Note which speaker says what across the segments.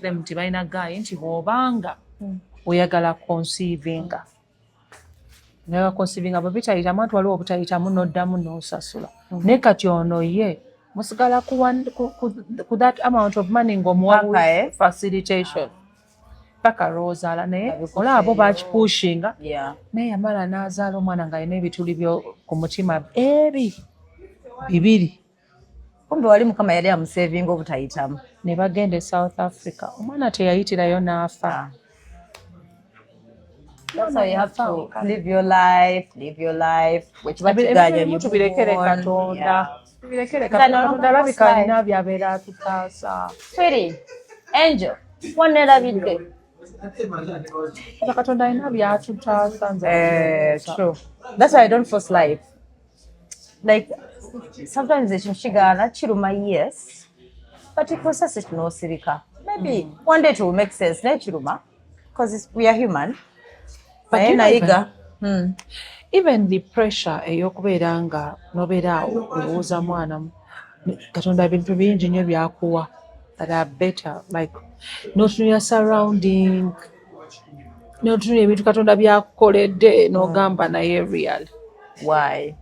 Speaker 1: them nti balina gaayi nti bw'obanga hmm. oyagala konsiivinga oyagala konsiivinga bwe bitayitamu anti waliwo obutayitamu n'oddamu n'osasula hmm. naye kati ono ye musigala ku that amount of money ng'omuwa eh? facilitation paka lwozaala naye olaba bo bakipushinga naye yamala n'azaala omwana ng'alina ebituli byo ku mutima ebi bibiri kumbe wali
Speaker 2: mukama yali amusevinga obutayitamu ne bagenda e
Speaker 1: south africa omwana teyayitirayo n'afa ah. tubirekere
Speaker 2: katonda
Speaker 1: tubirekere katonda alabika alina byabeera atutaasa
Speaker 2: angel wanerabidde
Speaker 1: katonda alina byatutaasa nze eh, that's
Speaker 2: why i don't force life like sometimes ekyo kigaana kiruma yes but process it nosirika maybe mm. one day it will make sense naye kiruma because we are human naye
Speaker 1: nayiga hmm. even the pressure eyokubeera nga nobeera awo olowooza mwana katonda bintu bingi nyo byakuwa that are better like notunula surrounding notunula ebintu katonda byakukoledde nogamba naye real why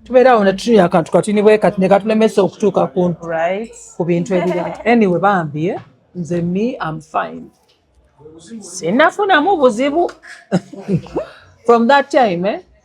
Speaker 1: tubeerawo netutunula akantu katini bwekati nekatulemesa okutuuka ku
Speaker 2: bintu ebira
Speaker 1: anyway bambi eh? nze me am fine sinafunamu buzibu from that time eh?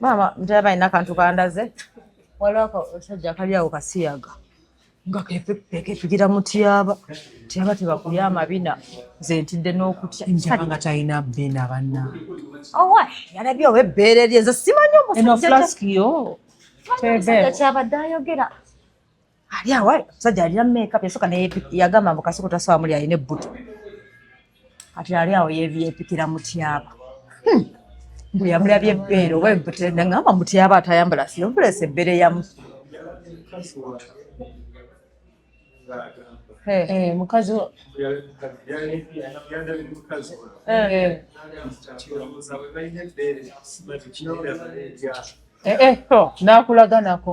Speaker 1: maama
Speaker 2: ntera balina akantu kandaze waliwo akasajja kali awo kasiyaga nga kepigira mutyaba tyaba tebakulya amabina nze ntidde n'okutya njaba nga talina
Speaker 1: bina banna owa
Speaker 2: yalabye oba ebbeere lye nze simanyi omusajja
Speaker 1: kyabadde
Speaker 2: ayogera ali awo omusajja alina makeup yasooka naye yagamba mbu kasoko tasobola muli alina ebbuto kati ali awo yeepikira mutyaba hmm. mbu yamulabye ebbeere oba ebbuto nangamba mutyaba atayambala siyompulesa ebbeere yamu eh,
Speaker 1: eh, mukazi eh, nakulaganako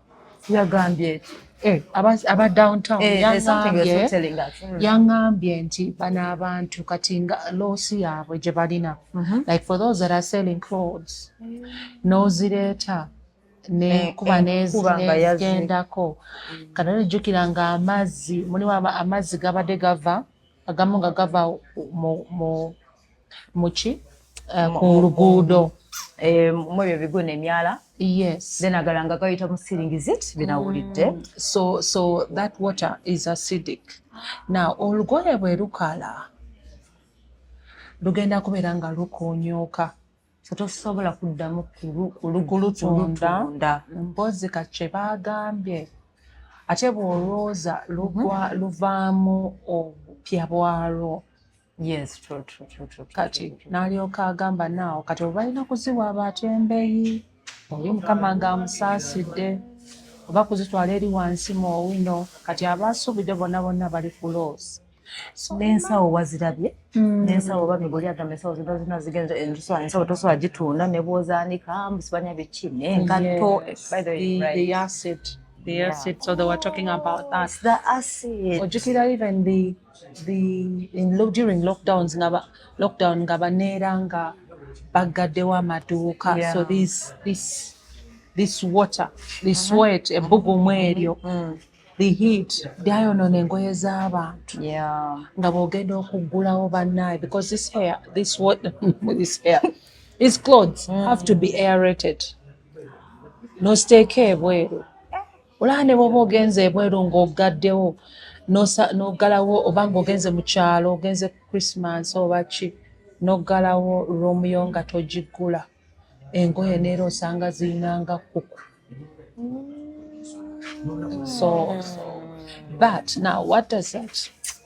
Speaker 2: yagambye eki eh, aba downtown eh, yangambye mm. nti bano abantu kati nga loosi yaabwe gye balina mhm. like for those that are selling clothes mm. n'ozireeta nekuba eh, nezigendako mm. kana ojjukira nga amazzi mulimu amazzi gabadde gava agamu nga gava mu muki eh, ku luguudo eh, mu ebyo bigo nemyala yes then
Speaker 1: agalanga gayita
Speaker 2: mu siringizit binawulidde mm. so so
Speaker 1: that water is acidic now olugoye bwe lukala lugenda kubeera nga lukonyoka tosobola
Speaker 2: kuddamu kulugulutunda
Speaker 1: mpozi ka kye baagambye ate bw'olwooza mhm. luvaamu obupya bwalwo Yes, true,
Speaker 2: true, true, true. Kati
Speaker 1: nalyoka agamba naawo kati obalina kuziwa abatembeyi oli mukama nga amusaasidde oba kuzitwala eri wansi mu owino kati abaasuubidde bonna bonna bali ku loosi n'ensawo
Speaker 3: wazirabye mm. n'ensawo oba mibuli agamba ensawo zino zina zigenza ensawo ensawo tosobola gitunda ne bwozaanika musibanya biki n'engatto ojukira even the
Speaker 2: during lockdowns nga lockdown nga baneera nga baggaddewo amaduuka yeah. so this, this, this water this mm -hmm. wet ebbugumu eryo mm -hmm. the heat byayonoona engoye z'abantu yeah. nga bwogenda okuggulawo bannaye because this hair this water this hair this clothes mm -hmm. have to be aerated nosteeka ebweru olaba ne bwoba ogenze ebweru ng'ogaddewo n'oggalawo oba ng'ogenze mu kyalo ogenze ku christmas oba ki n'oggalawo roomu yo nga togiggula engoye neera osanga zirinanga kuku so but now what does that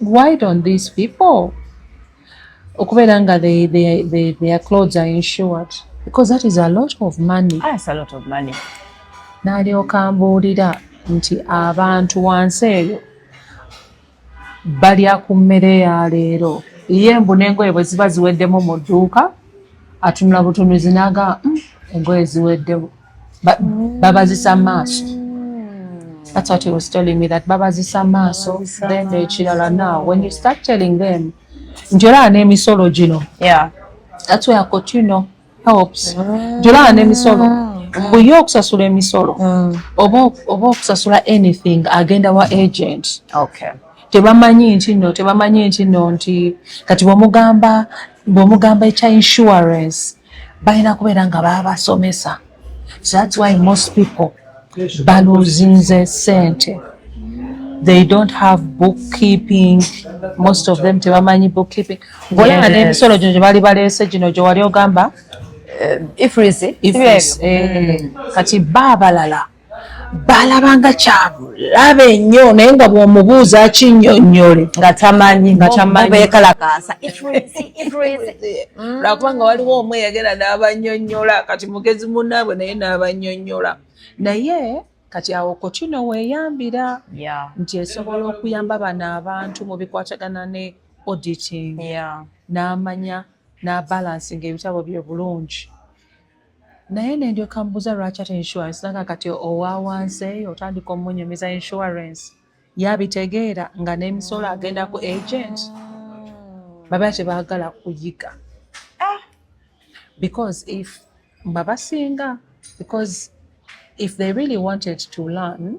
Speaker 2: why don't these people okubeera nga their clothes are insured because that is a lot of money ah, a lot of money
Speaker 3: nalyoka
Speaker 2: mbuulira nti abantu wansi eyo balya ku mmere ya leero ye mbu n'engoye bwe ziba ziweddemu mu dduuka atunula butunuzi naga mm, engoye ziweddemu But mm. babazisa amaaso mm. that's what he was telling me that babazisa amaaso then ekirala now when you start telling them nti olaba n'emisolo gino yeah. that's where cotuno helps mm. nti olaba n'emisolo mm. buye okusasula emisolo mm. oba okusasula anything agenda wa agent tebamanyi nti no tebamanyi nti no nti kati bwomugamba bwomugamba ekya insurance balina kubeera nga baabasomesa so thats why most people baluzinze sente they don't have bookkeeping most of them tebamanyi bookkeeping ngaolaba n'emisolo gino gye bali baleese gino gye wali ogamba eh,
Speaker 3: ifrisi eh, mm.
Speaker 2: kati ba abalala baalabanga kyabulabe nnyo naye nga bw'omubuuza akinyonnyole nga tamanyi
Speaker 3: nga tamanyibeekalakaasa mm. lwakubanga
Speaker 2: waliwo omu eyagera n'abanyonnyola kati mugezi munnaabwe naye n'abanyonnyola naye kati awo kotino weeyambira nti esobola okuyamba bano abantu mu bikwatagana ne auditing n'amanya n'abalansi ng'ebitabo bye bulungi naye nendyoka mbuza lwaki ate insurance nanga kati owawansi eyo otandika omunyumiza insurance yabitegeera nga nemisolo agenda ku agent baba tebagala kuyiga ah! because if babasinga because if they really wanted to learn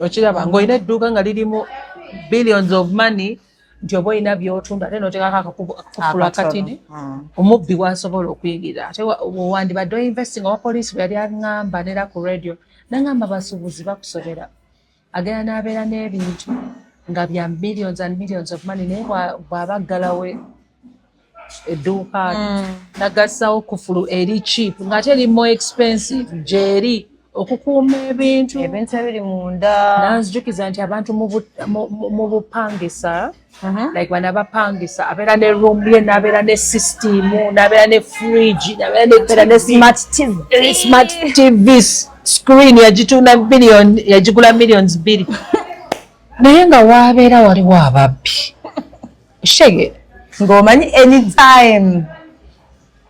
Speaker 2: okiraba ng'olina edduuka nga lirimu billions of money nti oba olina byotunda ate notekako akakufulu akatini hmm. omubbi wasobola okuyingira ate wandibadde oinvesting owa poliisi bwe yali aŋamba nera ku radio naŋamba basuubuzi bakusobera agenda n'abeera n'ebintu nga bya millions and millions of money naye bw'aba ggalawe edduuka mm. nagassawo kufulu eri cheap ng'ate eri more expensive gyeri
Speaker 1: okukuuma ebintu ebintu ebiri munda
Speaker 3: nanzijukiza nti abantu
Speaker 1: mu bupangisa uh-huh. like bana bapangisa abeera ne room ye nabeera ne system nabeera ne fridge nabeera ne smart tv eh, smart tv screen yagitunda million yagigula millions bbiri naye nga waabeera waliwo ababbi shege ng'omanyi
Speaker 3: anytime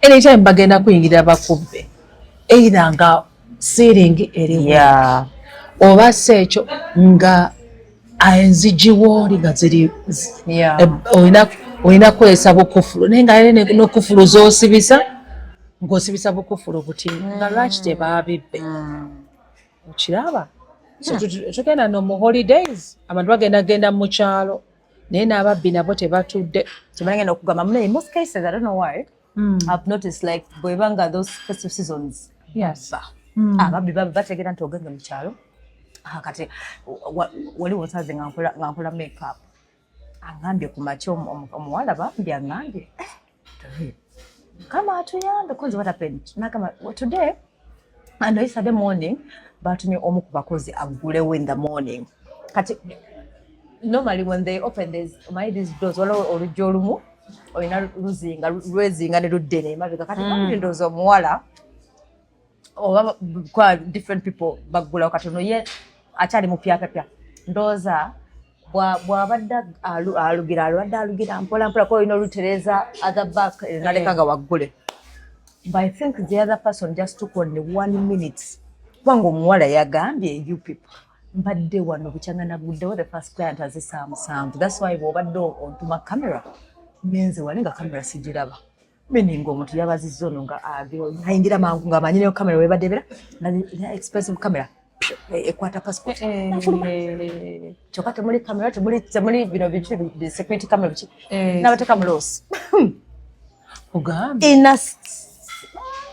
Speaker 1: anytime bagenda kuyingira bakubbe either nga siiringi eriwo yeah. oba si ekyo nga enzigiwo oli nga ziri yeah. Eh, olina olina kukozesa bukufulu naye nga yale nokufulu zosibisa ngosibisa bukufulu buti nga mm. lwaki tebaabibbe mm. okiraba hmm. tugenda no mu holidays abantu bagenda genda mu kyalo naye n'ababbi nabo tebatudde tebanagenda okugamba
Speaker 3: munaye most cases i don't know why mm. i've noticed like bweba nga those festive seasons yes. mm. ababbi ah, baba bategeera nti ogende mu kyalo ah, kati wali wosaze nga nkola makeup angambye ku makya omuwala bambi angambye eh. kama atuyambe kunze what happened nakama today and yesterday morning batumye omu ku bakozi aggulewo in the morning kati normally when they open these my these doors wala olujja olumu olina luzinga lwezinga ne luddene emabega kati mm. ndowooza omuwala oba kwa different people baggulawo kati ono ye akyali mupyapyapya ndowooza bwabadde alugira alwadde alugira mpola mpola kuba olina olutereza other back eh, naleka nga waggule but i think the other person just took only one minute kubanga omuwala yagambye you people mbadde wano bukyanga naguddewo the first client aze saa musanvu thats why bwobadde ontuma camera nenze wali nga camera sigiraba meaning omuntu yabaziza ono nga ayingira mangu nga amanyi neyo kamera webadebera na expensive camera ekwata passport eh, nafuluma eh. kyokka temuli kamera temuli bino biki security camera biki eh. nabateka muloosi ogambye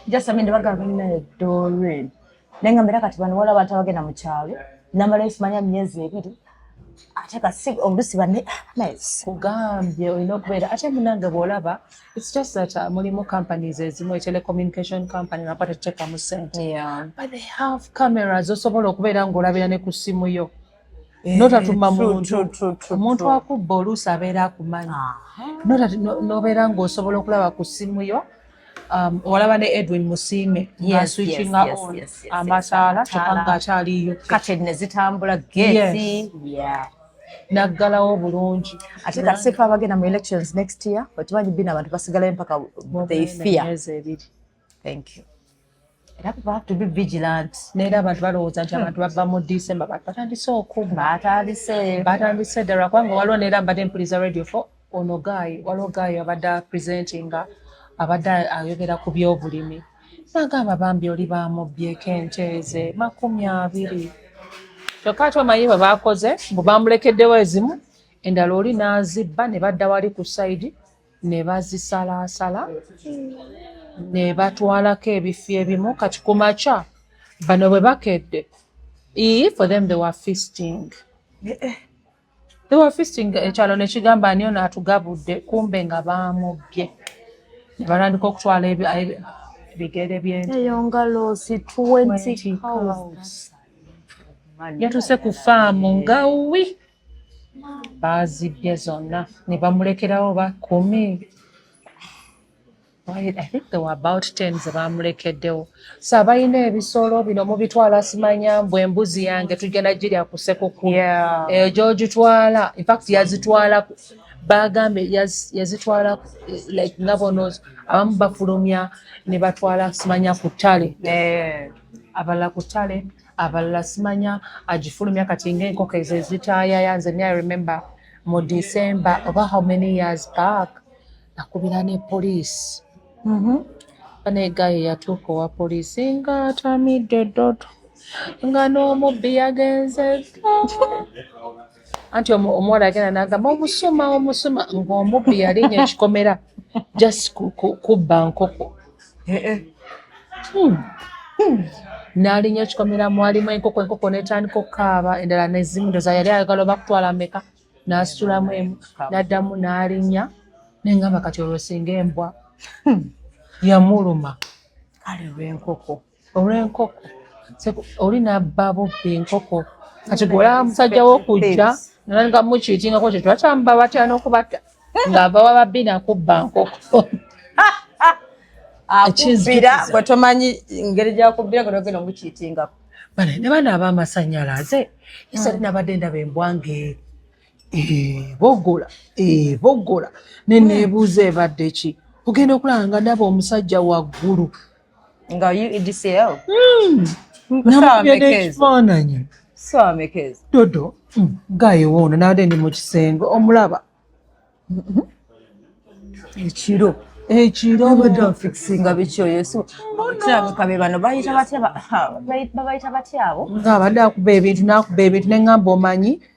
Speaker 3: just amende bagamba ninaye dorin naye nga mbera kati bano waliwo abantu abagenda mu kyalo namala ekimanya myezi ebiri ate kasi olusi bane kugambye olina
Speaker 1: okubeera ate munange bwolaba its just that uh, mulimu companies ezimu etelecommunication company napa tetutekamu sente but they have cameras osobola okubeera ngaolabira ne ku simu yo Eh, notatuma muntu omuntu akubba oluusi abeera akumanyi nobeera ngaosobola okulaba ku simu yo um, olaba ne edwin musiime aswitchinga on amataala kyokka nga akyaliyo kati nezitambula
Speaker 3: gesi
Speaker 1: naggalawo bulungi ate kasifa
Speaker 3: abagenda mu elections next year okimanyi bina abantu basigalayo mpaka they fear thank you era kuba to be vigilant neera abantu balowooza
Speaker 1: nti abantu bava mu december bantu batandise okubba batandise batandise ddala kubanga waliwo neera mbadde mpuliza radio fo ono gaayi waliwo gaayi abadde apresentinga abadde ayogera ku byobulimi nagamba bambi oli bamubbyeko enteeze makumi abiri kyokka ati omanyi bwe baakoze mbu bamulekeddewo ezimu endala oli n'azibba ne badda wali ku sayidi ne bazisalaasala ne batwalako ebifi ebimu kati ku makya bano bwe bakedde ii for them they were feasting eh, eh. they were feasting ekyalo ne kigamba ani ono atugabudde kumbe nga baamubbye ne batandika okutwala ebigere byeyo nga loosi
Speaker 3: twenty
Speaker 1: yatuuse ku faamu nga wi baazibbye zonna ne bamulekerawo ba kumi I think there were about ten ze baamulekeddewo so abalina ebisolo bino mubitwala simanya mbu embuzi yange tugenda girya ku sekukkulu eyo eh, gyogitwala infact yazitwala bagambe yazitwala like nga bonos abamu bafulumya ne batwala simanya ku ttale eh. abalala ku ttale abalala simanya agifulumya kati ngaenkoko ezo ezitayaya nze ni remember mu december oba how many years back nakubira ne poliisi mhm. banegaye yatuuka owa poliisi nga atamidde dodo nga n'omubbi yagenze anti omuwala agenda nagamba omusuma omusuma ngaomubbi yalinya ekikomera just kubba nkoko eh, eh. Hmm. Hmm. nalinya ekikomera mwalimu enkoko enkoko netandika okukaaba endala nezimu ndoza yali ayagala oba kutwala meka nasitulamu emu naddamu nalinya nengamba kati olwo singa embwa hmm. yamuluma
Speaker 3: kale
Speaker 1: lwenkoko
Speaker 3: olw'enkoko
Speaker 1: oli nabba bubbi enkoko kati gwola musajja wokujja nga mukiitingako kye twakyamba batya n'okubatta ng'ava wababbi nakubba nkoko
Speaker 3: akubbira gwe tomanyi ngeri gyakubbira gwe nogenda omukiitingako bane ne bana
Speaker 1: abamasanyalaze isali hmm. nabadde ndaba embwa ng'eri ebogola eh, ebogola eh, neneebuuza hmm. ebadde ki ogenda okulaba nga ndaba omusajja waggulu nga
Speaker 3: udcl hmm.
Speaker 1: ekifaananyi dodo hmm. gayewo ono nade ndi mu kisenge omulaba mm-hmm.
Speaker 3: ekiro ekiro abadde afikisinga bikyoyesokirabukabe bano babayita batya abo nga abadde
Speaker 1: akuba ebintu neŋamba omanyi ba,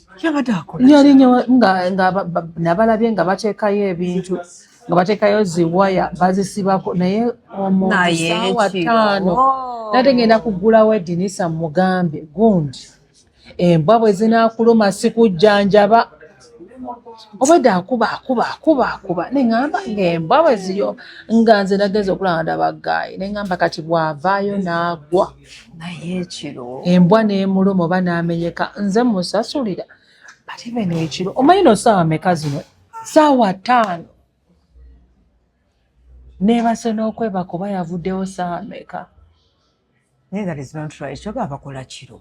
Speaker 3: yabadde akola
Speaker 1: yali nabalabye nga bateekayo ebintu nga bateekayo ziwaya bazisibako naye omusawa taano oh. nate ngenda kugulawo edinisa mugambe gundi embwa bwe zinakuluma sikujjanjaba obwedda akuba akuba akuba akuba neŋamba ng'embwa bwe ziyo nga nze nagenza okulaba ndaba gaayi neŋamba kati bw'avaayo n'agwa naye ekiro
Speaker 3: embwa n'emuluma
Speaker 1: oba n'amenyeka nze musasulira ate beno ekiro omanyi no saawa meka zino saawa ttaano neebase n'okwebaka oba yavuddewo saawa meka
Speaker 3: naye that is not right kyoga abakola kiro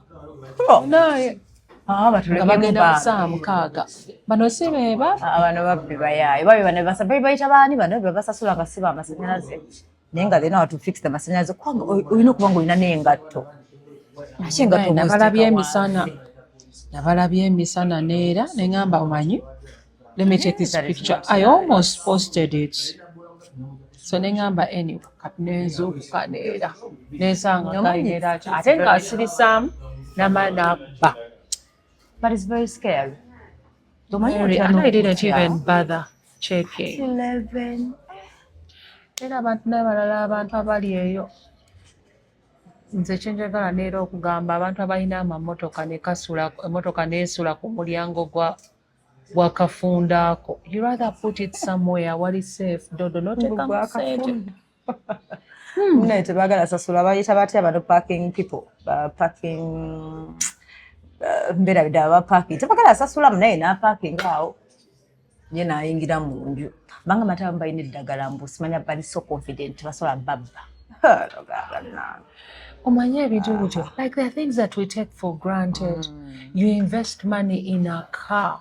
Speaker 3: naye
Speaker 1: ah, bagenda saawa mukaaga bano si beba ah, bano babbi
Speaker 3: bayaayo babi bano bayita baani bano bebasasula nga si bamasanyalaze naye nga then watu fix the masanyalaze kubanga olina okuba nga olina n'engatto naki engatto nabalabye emisana
Speaker 1: nabalabye emisana neera ne ngamba omanyi let me take this picture i almost posted it so ne ngamba any kati nenzuukuka neera nensanga gainera ate nga asirisaamu namala nakuba But
Speaker 3: it's very scary. Mary,
Speaker 1: and I didn't even bother checking. 11. era abantu n'abalala abantu abali eyo nze kyenjagala neera okugamba abantu abalina amamotoka nekasula emotoka neesula ku mulyango gwa gwa kafunda ako you rather put it somewhere wali safe dodo noteekamu sente
Speaker 3: Hmm. naye tebagala sasula bayita batya bano parking people parking uh, mbeera bidala baparking tebagala sasula munaye naparking awo ye nayingira mu nju banga mataba mubalina eddagala mbu simanya bali so confident basobola babba
Speaker 1: omanye ebintu bityo like the things that we take for granted mm. you invest money in a car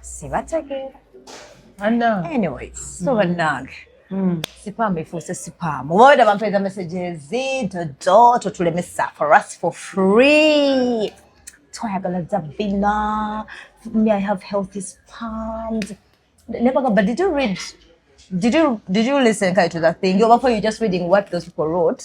Speaker 3: sibategeera anyway so mm. bannange mm. sipaamu efuuse sipaamu oba weda bampeeza messages dodo totulemesa for us for free twayagala zabina me i have healthy spams nebaga but did you read did you did you listen kai to that thing oba for you just reading what those people wrote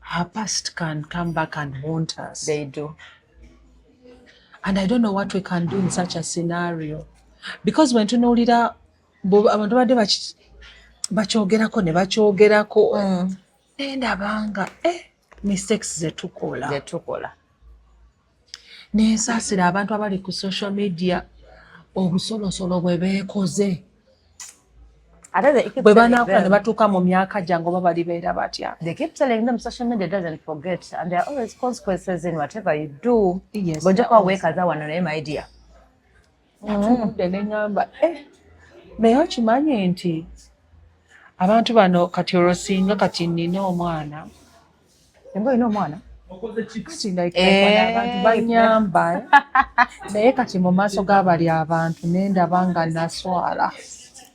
Speaker 2: Her past can come back and haunt us. They do. And I don't know what we can do in such a scenario. Because when tunuulira abantu badde bakyogerako ne bakyogerako mm. nendabanga eh, mistakes zetukola zetukola nensaasira abantu abali ku social media obusolosolo bwe beekoze bwe banaakula ne batuuka mu myaka gyange oba bali beera batya
Speaker 3: bwojja kuba
Speaker 2: weekaza wano
Speaker 3: naye maidia
Speaker 2: natunudde ne ŋŋamba eh, naye okimanyi nti abantu bano kati olwo singa kati nnina omwana singa
Speaker 3: olina omwana
Speaker 2: abantu eh. banyamba eh. naye kati mu maaso g'abali abantu nendaba nga naswala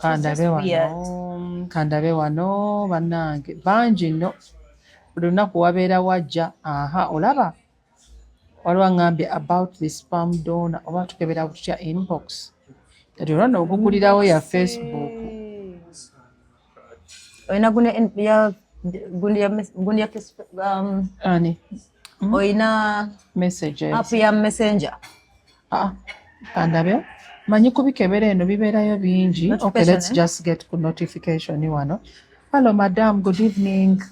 Speaker 3: kandabe wano
Speaker 2: kandabe wano banange bangi no buli lunaku wabeera wajja aha olaba waliwo angambye about the spam dona oba tukebera kutya inbox kati olwona ogugulirawo ya facebook
Speaker 3: olina gundi ya um,
Speaker 2: ani Mm-hmm. olina
Speaker 3: app
Speaker 2: ya messenger
Speaker 3: ah, kandabe
Speaker 2: manyi kubikebera eno bibeerayo bingi okay let's eh? just get ku notification wano hello madam good evening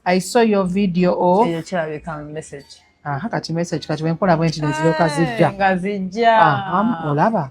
Speaker 2: i saw your video of eyo kirabika message
Speaker 3: aha kati
Speaker 2: message kati wenkola bwenti neziroka zijja nga zijja
Speaker 3: olaba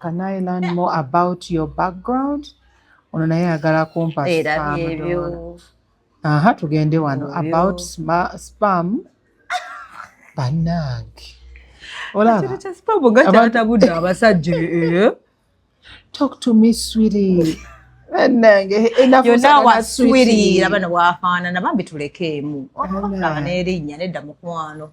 Speaker 3: Can I learn
Speaker 2: more about your background? Ono naye ayagala kumpa spam. Aha, tugende wano about spam. Banange. Olaba. Kino kya spam gata atabudde abasajja. Eh? Talk to me sweetie. Banange.
Speaker 3: Eh, Yonna wa sweetie. Laba ne wafaanana bambi tulekeemu. Olaba n'erinnya
Speaker 2: nedda mukwano.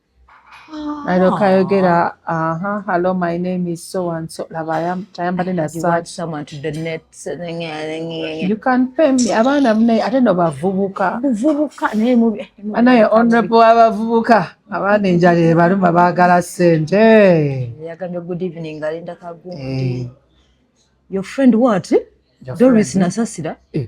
Speaker 3: alyoka ayogera
Speaker 1: aha hello my name is so and so laba
Speaker 3: tayambadde na
Speaker 1: you can pay me abaana mune ate no bavubuka buvubuka naye mubi anaye honorable abavubuka abaana enjala ebaluma baagala sente yagambye good
Speaker 3: evening alinda kagundi eh. your friend what doris nasasira eh.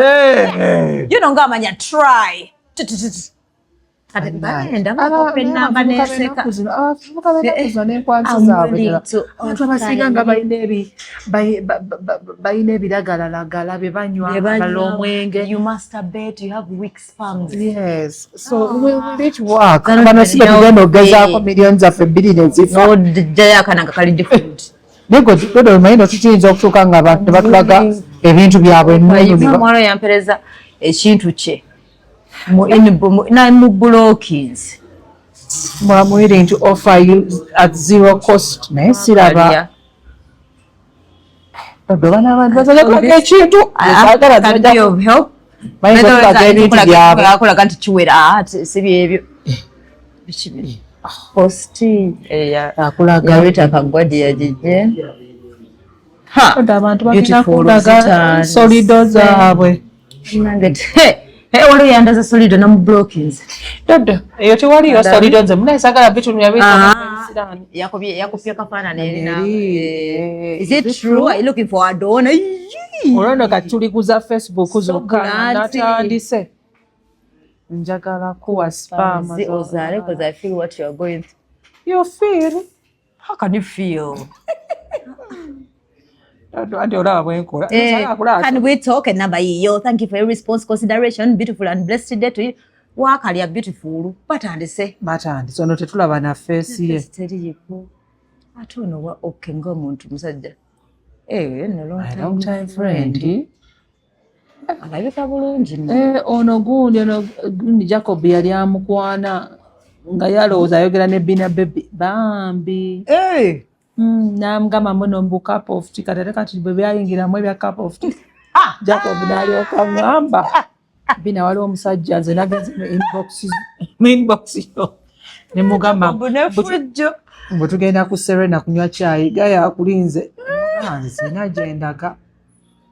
Speaker 3: eh, eh. you know nga amanya try abasinga nga balina ebiragalalagala bye banywa bala omwenge bano
Speaker 1: si betugenda okugezaako million zaffe bbiri nezifa nayegododomayino kikiyinza okutuuka nga abantu tebatulaga ebintu byabwe muwala yampereza
Speaker 3: ekintu kye mu bulokins
Speaker 1: mwamuire nti offer you at zero cost naye siraba ekintu
Speaker 3: akolaga nti kiwera ah, sibyebyo hosti akulaga weta kagwa gye yagijje
Speaker 1: abantu bagenda kulaga solido zaabwe
Speaker 3: waliwo yandaza solido namublokins dodo eyo
Speaker 1: tewaliyo solido nze muna esagala bitunu
Speaker 3: yabiyakupya kafaanana erinaolwono
Speaker 1: kati tulikuza facebook zokka natandise njagala kuwa spam ozaale because i
Speaker 3: feel what you are going through you feel
Speaker 1: how can you
Speaker 3: feel eh, can we talk enamba yiyo thank you for your response consideration beautiful and blessed day to you wakalya beautiful batandise batandise ono
Speaker 1: tetulaba na feesi ye teriyiko
Speaker 3: ate ono wa oke ngaomuntu musajja eh, no
Speaker 1: long time friend
Speaker 3: alabika bulungi eh, ono gundi
Speaker 1: ono gundi jacob yali amukwana nga yalowooza ayogera ne bina bebi bambi eh! hmm, namugamba muno mbu cup of tea kati ate kati bwe byayingiramu ebya cup of tea ah! jacob nalyoka ngamba bina waliwo omusajja nze nagenze mu inbox mu inbox yo ne mugamba bunefujjo mbu tugenda ku serena kunywa kyayi gaya akulinze nze nagyendaga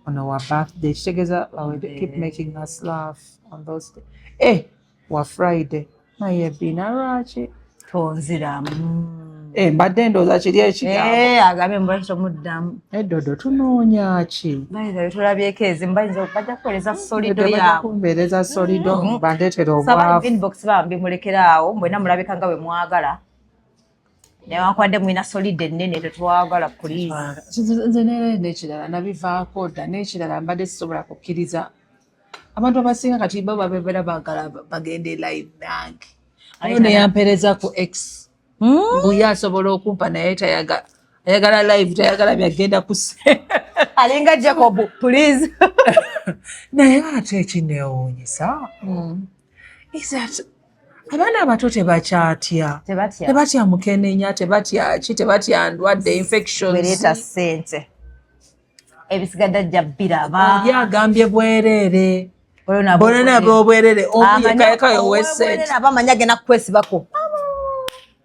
Speaker 1: on our birthday kitegeza keep making us laugh on those day eh wa friday naye bina lwaki tonziramu
Speaker 3: mm. eh mbadde
Speaker 1: ndooza kiri ekigambo eh agambye mbadde
Speaker 3: tomuddamu eddodo eh, tunoonya
Speaker 1: ki bayinza tulabyeko ezimu
Speaker 3: bayinza bajja kuweereza solido yaabwe kumbeereza
Speaker 1: solido mm. bandeetera obwavu inbox bambi mulekera
Speaker 3: awo mwena mulabika nga bwe mwagala newankubadde mulina solide ennene tetwagala puliizinze nera
Speaker 1: nekirala nabivaako dda nekirala mbadde sisobola kukkiriza abantu abasinga kati bo babebera bagala bagende live nange ayo neyampereza ku x hmm? buye asobola okumpa naye tayaga ayagala live tayagala byagenda kuse alinga
Speaker 3: jacob please
Speaker 1: naye ate ekinewuunyisa hmm. is that abaana abato tebakyatya tebatya mukenenya tebatyaki tebatya ndwadde infectionsleeta sente
Speaker 3: ebisigadde ajja biraba oli agambye
Speaker 1: bwereere bonana bobwerere omuyekayekayo wesente abamanya agenda kukwesibako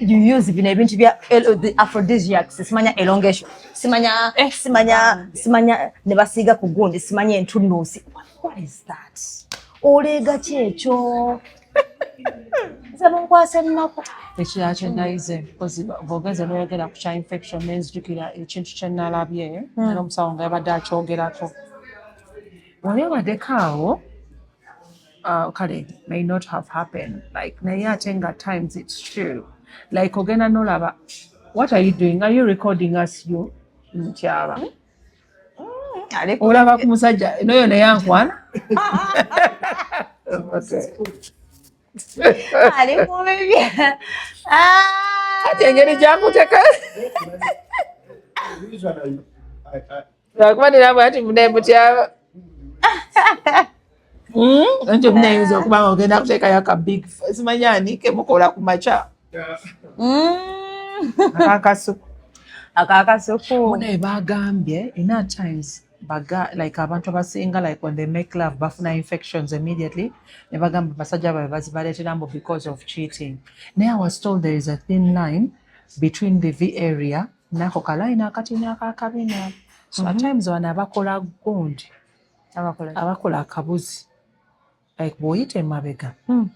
Speaker 3: you use bino ebintu bya aphrodisiacs simanya elongation simanya eh, simanya simanya ne basiiga ku gundi simanya entunuusi what is that oleega ki ekyo nze munkwasa
Speaker 1: ennaku ekirala kyenayize bwogeze noyogera ku kya infection nenzijukira ekintu kyenalabye hmm. era omusawo nga yabadde akyogerako wali obadeko awo uh, kale may not have happened like naye ate nga times it's true like ogenda nolaba what are you doing are you recording us you ntyaba mm, mm, olaba ku musajja noyo naye ankwana ah. engeri gyakuteka lwakuba nina bwati munaye mutyaba ekyo hmm? munayinza okuba nga ogenda kuteekayo ka big simanyi ani kemukola ku makya hmm. akakasuku
Speaker 3: akakasuku munaye bagambye
Speaker 1: ina times baga like abantu abasinga like when they make love bafuna infections immediately ne bagamba basajja babe bazibaletera mbu because of cheating naye i was told there is a thin line between the v area nako kalayini akatini akakabina so at mhm. times wano abakola gundi abakola akabuzi like bwoyita emabega hmm.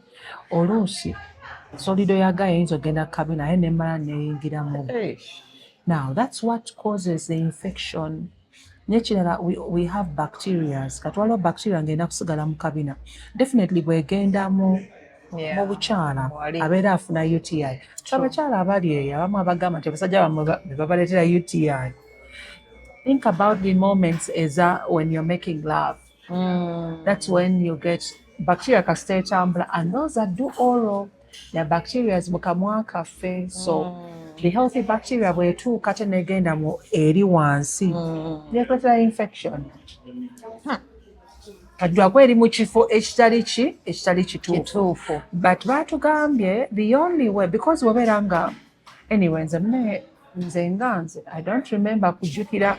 Speaker 1: oluusi solido yaga yayinza ogenda kukabina aye nemala neyingira mu now that's what causes the infection mm. nekirala we, we have bacterias kati waliwo bacteria ngenda kusigala mu kabina definitely bwegenda mu yeah. mubukyala abeera afuna uti abakyala abali eyo abamu abagamba nti abasajja bamwe bebabaletera uti think about the moments eza when you're making love mm. that's when you get bacteria kasita etambula and those that do oral na bacteria mu kamwa kaffe so mm. the healthy bacteria bwetuuka tenegenda mu eri wansi mm. netuletera infection kajjwako eri mu kifo ekitali ki ekitali kituufu but batugambye the only way because webeera nga anyway nze nze nga nze i don't remember kujjukira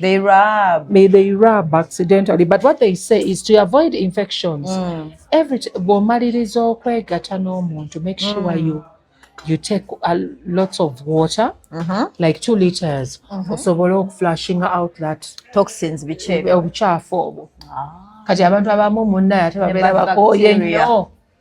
Speaker 1: They
Speaker 3: rub. May they rub accidentally. But
Speaker 1: what they say is to avoid infections. Mm. Every bwomaliriza okwegata n'omuntu, make sure mm. you you take a lots of water mm -hmm. like two liters mm -hmm. osobola okuflashing out that toxins
Speaker 3: obucaafu
Speaker 1: obwo ah. kati abantu abamu munnaye ate babeera bakooye nnyo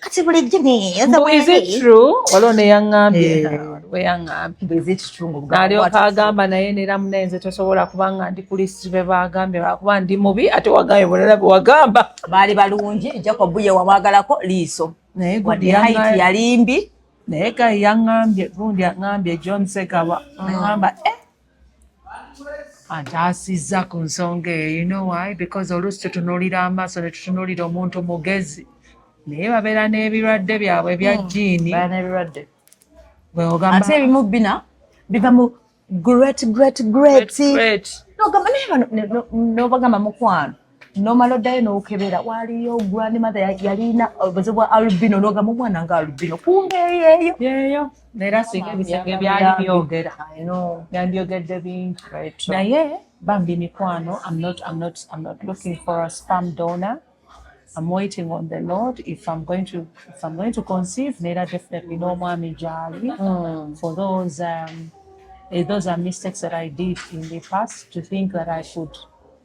Speaker 3: kati bulijjo
Speaker 1: waliwo neyaŋambye weyaŋambyalyoka
Speaker 3: agamba
Speaker 1: naye nera munaye nze tosobola kubanga ndi kulisiti bebagambye lwakuba ndi mubi ate wagambye bulala bewagamba baali balungi
Speaker 3: jacob ye wamwagalako liiso naye
Speaker 1: yalimbi
Speaker 3: naye gayi
Speaker 1: yaŋambye gundi aŋambye john segaba mm. aŋamba eh, antaasizza ku nsonga eyo you know why because oluusi tutunuulira amaaso ne tutunuulira omuntu mugezi naye babeera n'ebirwadde byabwe bya hmm. jiini
Speaker 3: ate ebimu bina biva mu great great great nobagamba mukwano nomala oddayo nokebera waliyo grand mother yalina obuzibu bwa albino nogamba omwana nga albino kumbe yeyo yeyo
Speaker 1: era singa ebisinga ebyali byogera yandyogedde bingi naye bambi mikwano I'm not, I'm not, I'm not looking for a spam donor I'm waiting on the Lord if I'm going to if I'm going to conceive nera definitely no mwami jali mm. for those um, eh, those are mistakes that I did in the past to think that I should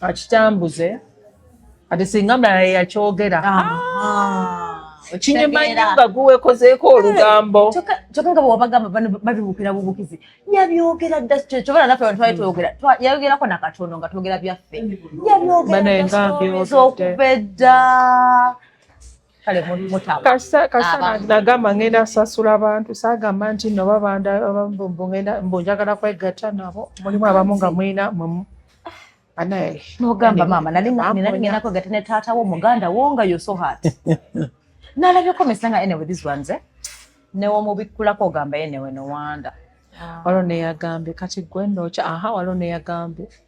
Speaker 1: akitambuze ati singa mulala yeyakyogera kinyuma nnyo nga guwekozeeko olugambo kyokka nga bwewabagamba
Speaker 3: babibuukira bubukizi yabyogera dda kyobala naffe abantu twali twogera yayogerako nakatono nga twogera byaffe yabyogera okuva edda kale mutaba kasita
Speaker 1: kasita nagamba ngenda sasula abantu sagamba nti no babanda abambumbu ngenda mbunjagala kwegatta nabo mulimu abamu nga mwina mwe anaye nogamba mama
Speaker 3: nali nali ngenda kwegatta ne taata wo muganda wo nga yo so hard nalabye komesa nga anyway this ones eh newomubikkulako ogamba ye newe nowanda ah. walo
Speaker 1: neyagambye kati gwe nokya aha walo neyagambye ah.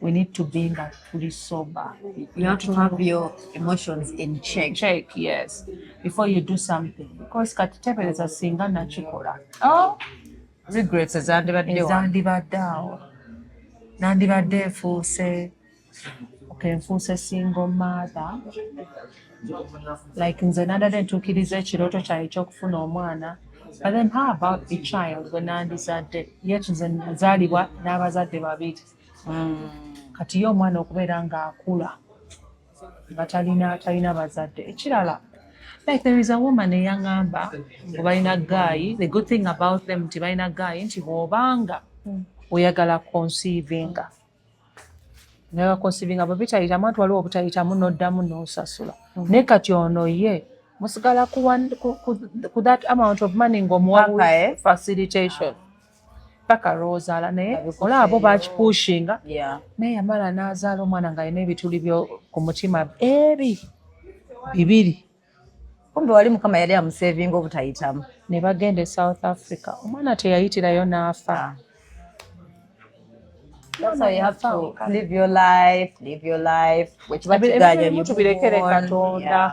Speaker 1: we need to be nga tuli sober you have to have
Speaker 3: your emotions in check check yes
Speaker 1: before you do something because kati tebereza singa nakikola oh
Speaker 3: regrets ezandibadde ezandibadde
Speaker 1: awo nandibadde efuuse okay nfuuse single mother like nze nadadde ntuukiriza ekirooto kyaye ekyokufuna omwana but then how about the child wenandizadde yet nze nazaalibwa n'abazadde babiri mm. kati ye omwana okubeera ng'akula nga talina talina bazadde ekirala like there is a woman eyaŋamba ngu balina gaayi the good thing about them nti balina gaayi nti bw'obanga mm. oyagala consivinga naye wakonsivinga bwe bitayitamu ati waliwo obutayitamu n'oddamu n'osasula mm. naye kati ono ye musigala ku that amount of money ng'omuwa eh? facilitation ah. paka lwozaala naye olaba bo bakipushinga naye yamala nazaala omwana nga alina ebituli byo ku mutima ebi bibiri kumbe wali
Speaker 3: mukama yali amusevinga obutayitamu ne bagenda e
Speaker 1: south africa omwana teyayitirayo n'afa ah. That's
Speaker 3: how you have to live your life, live
Speaker 1: your life. Which what you got, you move on. Yeah.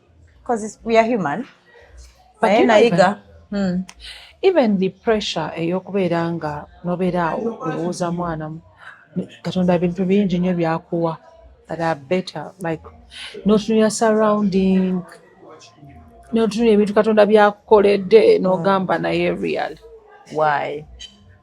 Speaker 3: Because we are human. But you know, even, hmm.
Speaker 1: even the pressure eyokubeera nga nobeera awo olowooza mwana katonda bintu bingi nyo byakuwa that are better like notunula surrounding notunula ebintu katonda byakukoledde nogamba naye real why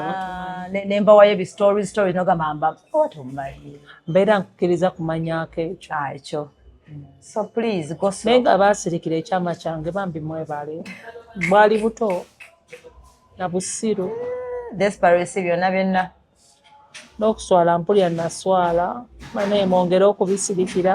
Speaker 3: Ah, nembawayo ebistory story nogamba mbaotomanyi mbeera nkukkiriza
Speaker 1: kumanyako ekyo ah, ekyo
Speaker 3: mm. so please naye nga baasirikira ekyama
Speaker 1: kyange bambi mwebale bwali buto na busiru desperesi
Speaker 3: byonna byonna
Speaker 1: n'okuswala mpulira naswala naye mwongere okubisirikira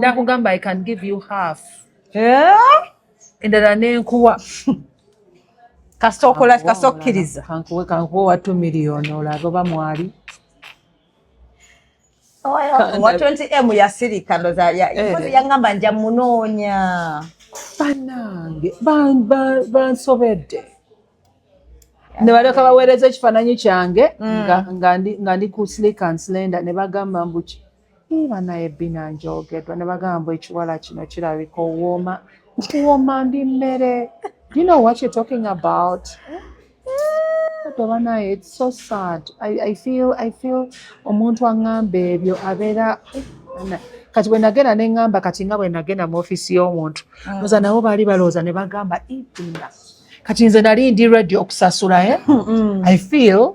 Speaker 1: nakugamba i can give you half eh? endala nenkuwa kasita okola
Speaker 3: kasita okkiriza kankuwe kankuwe wa
Speaker 1: two million olabe oba mwali owa
Speaker 3: 20 m yasirika ndoza eh. yangamba nja munoonya banange
Speaker 1: bansobedde nebaleka baweereza ekifaananyi kyange mm. nga ndi ku slick and slender ne bagamba mbuki banaye bina njogedwa ne bagamba ekiwala kino kirabika owooma nkuwooma ndi mmere do you know what you're talking about But banaye it's so sad I, I feel, I feel omuntu aŋŋamba ebyo abeera kati bwe nagenda ne ŋŋamba kati nga bwe nagenda mu ofiisi y'omuntu mm. oza nabo baali balowooza ne bagamba ibina kati nze nali ndi ready okusasula eh? mm. i feel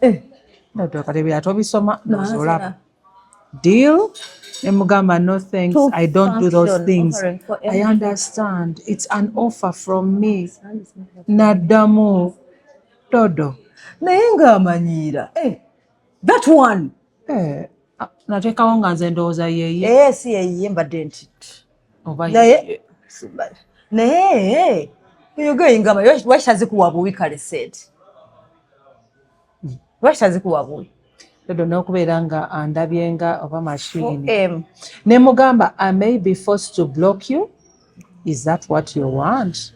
Speaker 1: eh ndoto kati bya tobisoma nozolaba deal emugamba no thanks Two i don't do those things i understand it's an offer from me naddamu dodo naye
Speaker 3: ng'amanyiira eh, that one eh, ah,
Speaker 1: nateekawo nga nze ndowooza yeye eh, si yeye mbadde
Speaker 3: nti naye naye you're going gamba lwaki tazikuwa buwi kale said lwaki tazikuwa buwi dodo n'okubeera
Speaker 1: nga andabye nga oba mashini ne mugamba i may be forced to block you is that what you want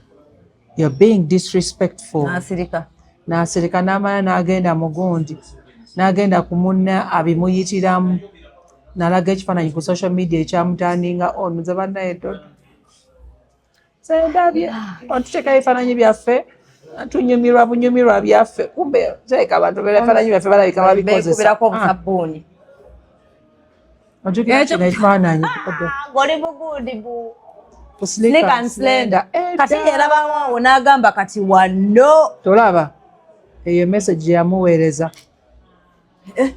Speaker 1: you're being disrespectful nasirika nasirika namala nagenda mugundi nagenda kumunna abimuyitiramu nalaga ekifaananyi ku social media ekyamutandinga on nze banaye dodo sendabye ontuteekayo ebifaananyi byaffe tunyumirwa bunyumirwa byaffe kumbe teeka abantu bera ebifaananyi byaffe balabika babikozesa ojukira kino ekifaananyi ngoli
Speaker 3: bugundi bu slikansenda kati yerabawawo n'agamba kati wanno tolaba
Speaker 1: eyo message yamuweereza
Speaker 3: eh,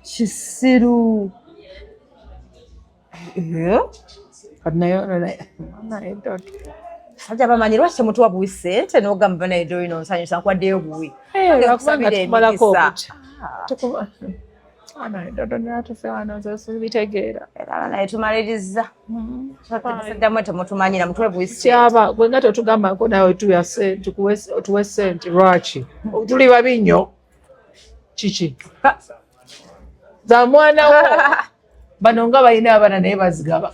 Speaker 3: kisiru eh?
Speaker 1: kati nayo
Speaker 3: sajja bamanyi lwaki temutuwa buwi sente nogamba naye dolina onsanyusa nkwaddeyo buwi
Speaker 1: eh, bitegeera naye
Speaker 3: tumaliriza saddamu temutumanyira mutwebuisyaba gwe nga tetugambako
Speaker 1: nawe tuwe sente lwaki tuli babi nnyo kiki za mwana wo bano nga balina abana naye bazigaba